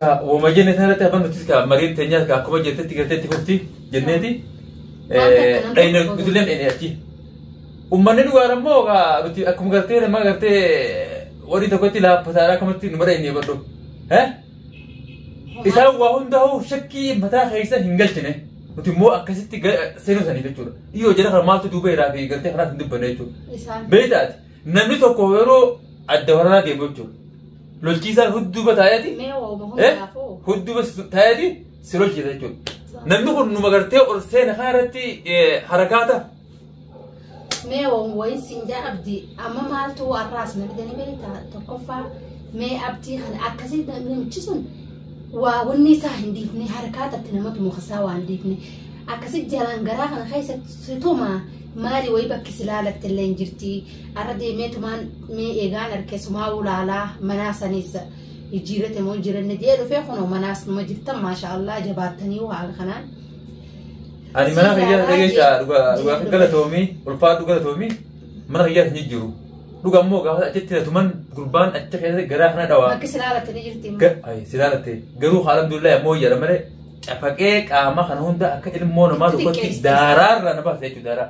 Woma jenne sanarratti amma nutis ka mariin teenyaas ka akkuma jettetti galteetti fufti jenneeti. Dhayina nutillee dhayina achi. Uummanni dhugaan ammoo ka nuti akkuma gartee nama gartee warri tokkotti laaffataadha akkamatti nu dhayinee badhu. Isaan waa hundaa'uu shakkii mataa keessa hin galchine. Nuti immoo akkasitti seenuu sanii jechuudha. Dhiyoo jala kana maaltu duuba irraa fi gartee kanaas hin dubbanne jechuudha. Beektaati namni tokko yeroo adda waraanaa deemu jechuudha. lolchiisaan hudduuba taa'eeti Mee waa'uma eh hundaafuu. hudduuba si- taa'eeti si lolchiisa jechuudha. Namni kun numa gartee ol seena kana irratti eh, harakaata. Mee waa'uma wayin siin jaa abdi amma maaltu warraas na fidanii beekta tokkoffaa mee abdii kana akkasii namichi sun waa wanni isaa hin dhiifne harkaa tatti namatu mukasaa waan dhiifne akkasii jalaan garaa kana keessatti situma maali wayii bakki si laalatte illee hin jirti Arra deemee tumaan mee eegaan arke sumaa ulaalaa manaa saniis jijjiirate moo jiranne jee dhufee kunoo manaas numa jirtan maashaa Allah jabaattanii haala kanaan. Ani mana kiyyaa dhageessaa dhugaa dhugaa galatoomii ulfaa dhugaa galatoomii mana kiyyaa hin jijjiiru. Dhugaa immoo gaafa achitti hidhatuman gurbaan achi keessatti garaa kana dhawaa. Bakki si laalatte ni jirti immoo. Ga- ay, si laalatte garuu haala abdullaa ammoo jedha malee cafaqee qaama kana hunda akka ilmoo namaa tokkotti Xixiqqeessite. daaraarra na baasa jechuudha daaraa.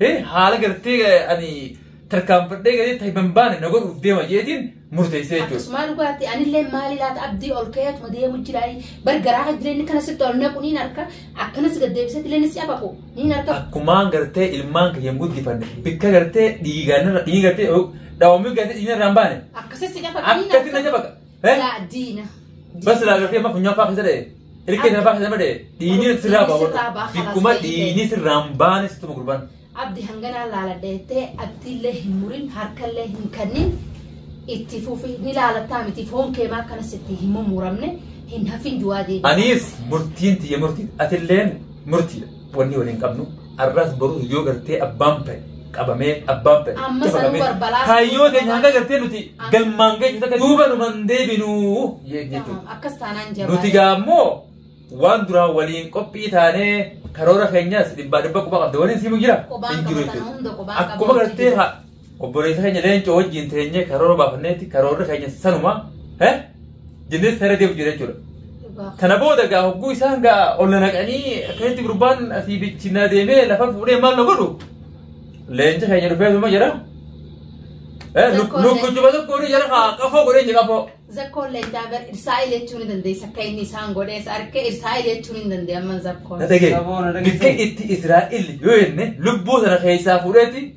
Hee haala gartee ani tarkaanfadhee galee ta'e ban baane na godhuuf deema jeetiin murteessee jechuudha. Akkasumaa dhugaatti anillee maali laata abdii ol ka'ee atuma deemu jira bar garaa kan jireenya kana sitti ol naqu niin harka akkanas gad deebisee illee si abaku niin harka Akkumaan gartee ilmaan kiyyan guddifanne bikka gartee dhiigaan irra dhiiga gartee dhawamii gartee dhiiga irraa hin baane akkasii si gafa niin akkatti na harka jabaka. Eh? Laa diina. Bas laa gartee amma funyaan faa keessa ta'e. Hirkee sana faa keessa nama ta'e. Dhiinii Abdi, sirraa dhiinii sirraa baa, ba'a. Bikkuma kalaas ta'e. dhiinii sirraan baane situ gurban. Abdi hanganaa laala dheettee abdiillee hin murin harkallee hin kannin itti fufi ni laalattaa miti foon keemaa akkanas itti hin mummuramne hin hafin du'aa deebi. Anis murtiin tiyya murtii atilleen murtiidha. Wanni waliin qabnu arraas boruus yoo gartee abbaan ta'e qabamee abbaan ta'e Amma sanuu qabamee barbalaas- kaayyoo keenya hanga gartee nuti galmaan geenyu takka duuba nu man deebinu jeen jechuudha. Tamam, Akkas taanaan Nuti jabaadha. gaammoo waan duraan waliin qophii taanee karoora keenyas dhibbaa dhibba quba qabda waliin siimu jira. Qubaan Hin jiru qabatan jechuudha. hunda qubaan Akkuma qabatan gartee jira. ha- Obboleessa keenya leencoo wajjin teenyee karoora baafanneetti karoorri keenya sanuma eh, jennee sana deemu jira jechuudha. Dhugaa. Kana booda gaa hogguu isaan gaa ol na naqanii akkasitti gurbaan asii bichi na deemee lafa fuudhee maal na godhu? Leenci keenya dhufee suma jira. Eh, Zakkoon Lukku leenci. juba tokko ni jira haa qafoo godhee jira qafoo. Zakkoon leencaa bar irsaa'il jechuu ni dandeessa akka inni isaan godhees harka irsaa'il jechuu ni dandeessa amman zakkoon. Na dhagee. Saboona dhageesse. Bikka itti Israa'el yoo jenne lubbuu sana keessaa fuudheeti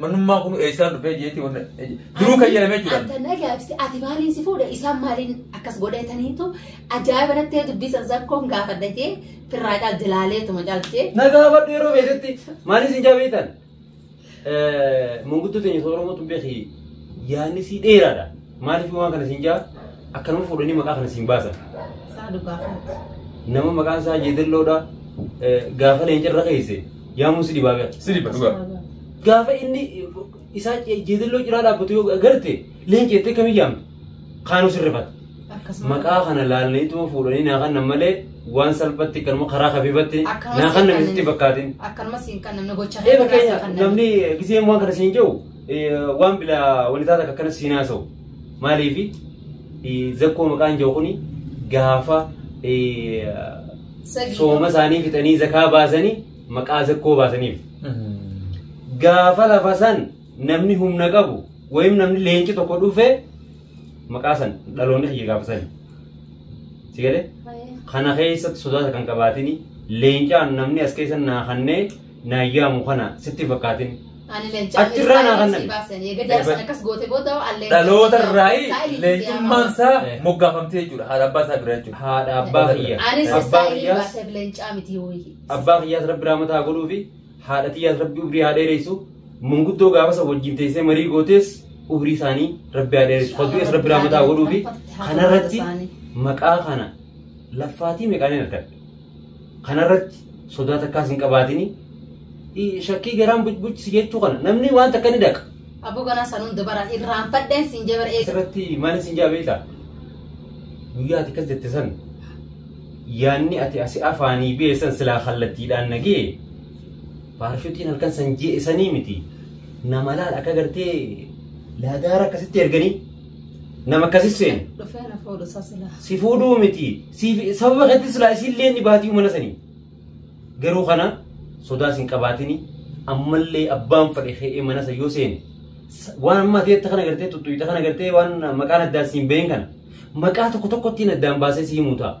Manummaa kun eessaa dhufee jeetii wanna duruu kan jedhamee jiran. Anta na gaabiste ati maaliin si fuudha isaan maaliin akkas godhataniitu ajaa'iba nattee dubbisan zakkoon gaafadha jee firraa caal jalaaleetuma caaltee. Na gaafadhu yeroo beeketti maaliif isin jaabeetan? Manguddoota inni Oromoo tun beeki yaanni si dheeraadha. Maaliif waan kana siin jaa akka nama fuudhanii maqaa kana siin baasan. Isaa dhugaa kanatti. Nama maqaan isaa jeedalloodha gaafa leencarra keesse yaamuu si dhibaa gara. Si dhiba dhugaa. Gaafa inni isaa jeedalloo ciraa dhaabbatu yoo agarte leenci jettee kamii yaamtu kaanuu sirrifata. Akkasuma. Maqaa kana laalaniituma fuudhanii naa kannan malee waan salphatti kanuma karaa kafiifatti Akkasumas naa kannan hin misitti fakkaatin. Akkanuma siin kan namni gocha Ee fakkeenya namni giseen waan kana siin jiru waan bila walitaa takka akkana siin haasa'u maaliifi zakkoo maqaan jiru kuni gaafa sooma isaanii fixanii zakaa baasanii maqaa zakkoo baasaniif gaafa lafa san namni humna qabu wayim namni leenci tokko dhufee maqaa san dhaloonni kiyya gaafa sani si galee kana keessatti sodaata kan qabaatini leencaan namni as keessa naa kannee naa yaamu kana sitti fakkaatin Ani leencaa Achi irraa naa kan nabi. baasanii egaa jaarsan akkas goote booda al leencaa. dhaloota irraa leencummaan isaa Eh. moggaafamtee jechuudha haadha abbaa isaa biraa jechuudha haadha abbaa kiyya Anis abbaa istaayilii kiyyaas baasee leencaa miti wayii. abbaa kiyyaas rabbi raamataa godhuu fi haadha tiyyaas rabbi umrii haa dheeressu manguddoo gaafasa wajjin teessee marii gootees umrii isaanii rabbi haa dheeressu faddu'ees rabbi raamataa godhuu fi kanarratti maqaa kana laffaatii meeqaan hin argadhe Kanarratti sodaa takkaas hin qabaatini. I- Shakkii garaan bucbucisi jechuu kana namni waan takka ni daqa. Abbo ganaa san hunda bara irraanfadheen siin jee bara eega. Asirratti maal isin jaa beekta? Guyyaa ati akkas jette san yaanni ati asi afaanii bee san silaa kallattiidhaan nagee paarshuutiin halkan san jee isanii miti. Nama laal akka gartee laadaara akkasitti erganii Nama akkasii seenu. Dhufee na fuudhu isaa silaa. Si fuudhuu miti. Siif sababa keetti silaa isillee ni baatii mana sanii. Garuu kana sodaas hin qabaatini. Ammallee abbaan fadhe ka'ee mana san yoo seene. sa- Waan amma ati jette kana gartee tuttuqxe kana gartee waan maqaan addaan siin bahin kana. Maqaa tokko tokkottiin addaan baasee si himuu ta'a.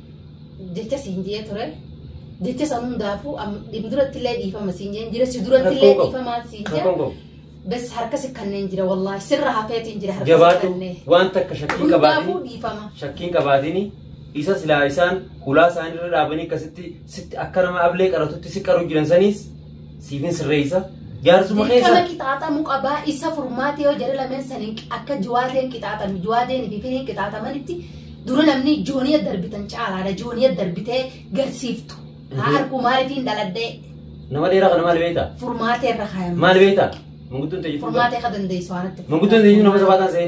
jecha siin jee ture jecha san hundaafuu dhib duratti illee dhiifama siin jeen jira si duratti illee dhiifamaa siin jee bes harka si kanneen jira wallaahi sirra hafeetiin jira harka si jabaadhu kanneen waan takka shakkii hundaafuu qabaatini dhiifama shakkiin qabaatini isa silaa isaan hulaa isaanii irra dhaabanii akkasitti sitti akka nama ablee qaratutti si qaru jiran saniis Siifin sirreessa. Jaarsuma Dirqama keessa. qixaaxamu qabaa isa furmaata yoo jedhe lameen saniin akka jiwaateen qixaaxamu jiwaateen fi finiin qixaaxamanitti dura namni jooniya darbitan caalaadha jooniya darbitee garsiiftu haa arguu maaliifiin dhaladhee Nama dheeraa kana maal beektaa? furmaatee irra kaayama Maal beektaa? Manguddoon ta'e jechuudha. furmaatee ka dandeessu waan itti Manguddoon ta'e jechuudha nama sabaataan se'e.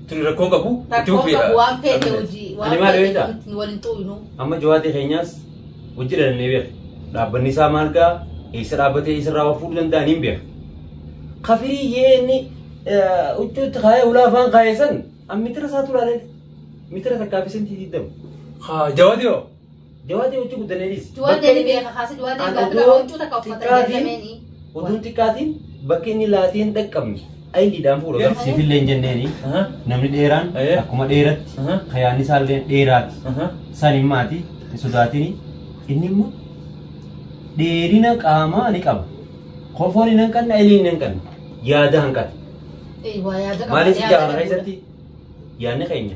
Tuni rakkoo qabu itti Rakkoo fufeedha. qabu waan feete hojii Ani waan maal feete beektaa? nuti waliin xuuynu. Amma jawaatee keenyaas hojii dhalannee beeka. Dhaabbanni isaa maal ga'a? Eessa dhaabbatee eessa irraa fuudhuu danda'an hin beeka. Kafirii yee inni huccuutti kaayee ulaa afaan kaayee san an mitira isaa tulaalee mitira takkaaf isin tiitiiddamu. Haa jawaatee hoo? Jawaa ta'e hojii guddannee dhiisi. Du'a Bakka deebi inni- beeka kaasee du'a deebi An gaafata odoo huccuu takka uffatan xiqqaatiin- jedhameenii. Oduun xiqqaatiin bakka inni laatee hin dhaqqabne ayidiidhaan fuudha. Yes. Garuu- Siifillee hin jenneeni. Aha, Namni dheeraan Eh. akkuma dheeratti aha, kayaanni isaallee dheeraati. aha. San hin maati hin sodaatini. Inni immoo dheerina qaamaa ni qaba. Kofoon hin hanqanne ilii hin hanqanne. Yaada hanqate. Eh, waa yaada qaba, Maaliif yaada jaarraa qaba. keessatti yaadni keenya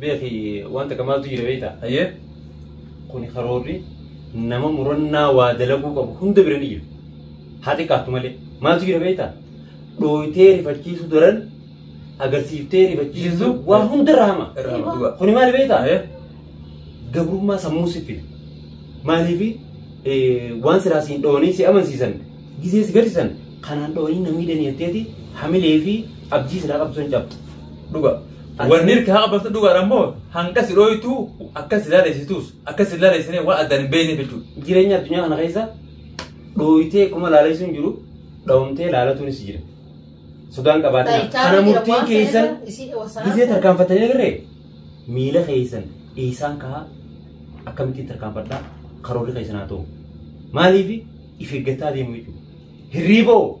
Beeki waan takka maaltu jira beektaa? Hayyee. Kuni karoorri nama murannaa waa dalaguu qabu hunda bira ni jira. Haa xiqqaatu malee. Maaltu jira beektaa? Dhooytee rifachiisu daran agarsiiftee rifachiisu Jisu. waa hunda irra hama. Irra hama dhugaa. Kuni maal beektaa? Hayyee. Gabrummaa sammuu si fida. Maaliifi eh, waan siraa siin dhoonii si amansiisan gisee si gadhisan kanaan dhoonii namii daniyatteeti hamilee fi abjii siraa qabdu san cabdu. Dhugaa. Wanni irka haqa bartu dhugaan ammoo hanga si dhooytu akka si laalesitus akka si laalesinee waan addaan hin beekneef jechuudha. Jireenya addunyaa kana keessa dhooytee kuma laaleessu hin jiru dhawamtee laalatuunis jira. Sudaan qabaatee kana murtiin keessan gisee tarkaanfatanii agarree miila keessan dhiisaan kahaa akkamittiin tarkaanfadhaa karoorri keessan haa ta'u. Maaliif if eeggataa deemu jechuudha. Hirriiboo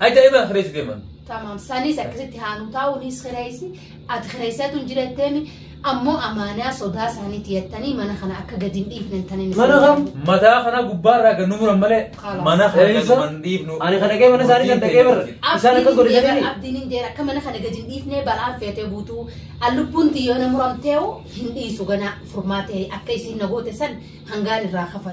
Ay daa'ima kireessi deeman. Tamam sanis akkasitti haanu taa'u nis kireessi ati kireessaa tun jiratteemi ammoo amaanaa sodaa isaaniitti yattanii mana kana akka gadi hin dhiifne tanin Mana kam? Mataa kana gubbaarraa gad nu muran malee Kalaas. mana kana gad Eessa? man dhiifnu. Ani kan dhagee mana isaanii kan dhagee barre. Isaan akkas godhe jedhanii. Abdiin hin jeera akka mana kana gadi hin dhiifne balaan feetee buutuu allubbuun xiyyoona muramteewu hin dhiisu ganaa furmaatee akka isiin nagoota san hangaan irraa kafa.